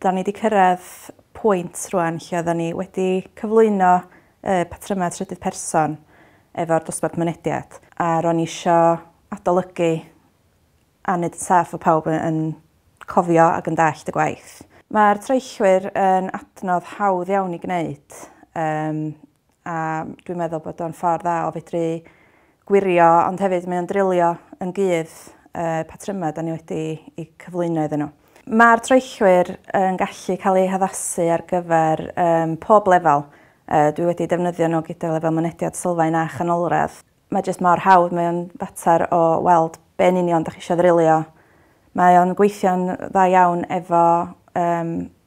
'Da ni 'di cyrraedd pwynt rŵan lle oeddan ni wedi cyflwyno y patrymau trydydd person efo'r dosbarth mynediad a ro'n ni isio adolygu a neud yn saff fod pawb y- yn cofio ac yn dallt y gwaith. Mae'r troellwyr yn adnodd hawdd iawn i gneud yym a dwi'n meddwl bod o'n ffordd dda o fedru gwirio ond hefyd mae o'n drilio yn gudd y patrymau da ni wedi i cyflwyno iddyn nhw. Mae'r troellwyr yn gallu cael eu haddasu ar gyfer um, pob lefel. Uh, dwi wedi defnyddio nhw gyda lefel mynediad sylfaen a chanolradd. Mae jyst mor hawdd, mae o'n fater o weld be'n union da chi eisiau ddrilio. Mae o'n gweithio'n dda iawn efo um,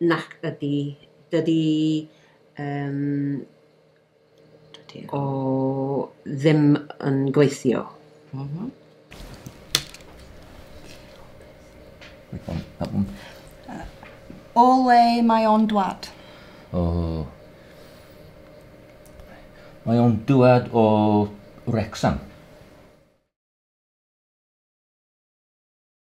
Nac ydy. Dydy yym dydy o ddim yn gweithio. Mhm. Mm O le mae o'n dwad? O... Mae o'n dwad o Wrecsam.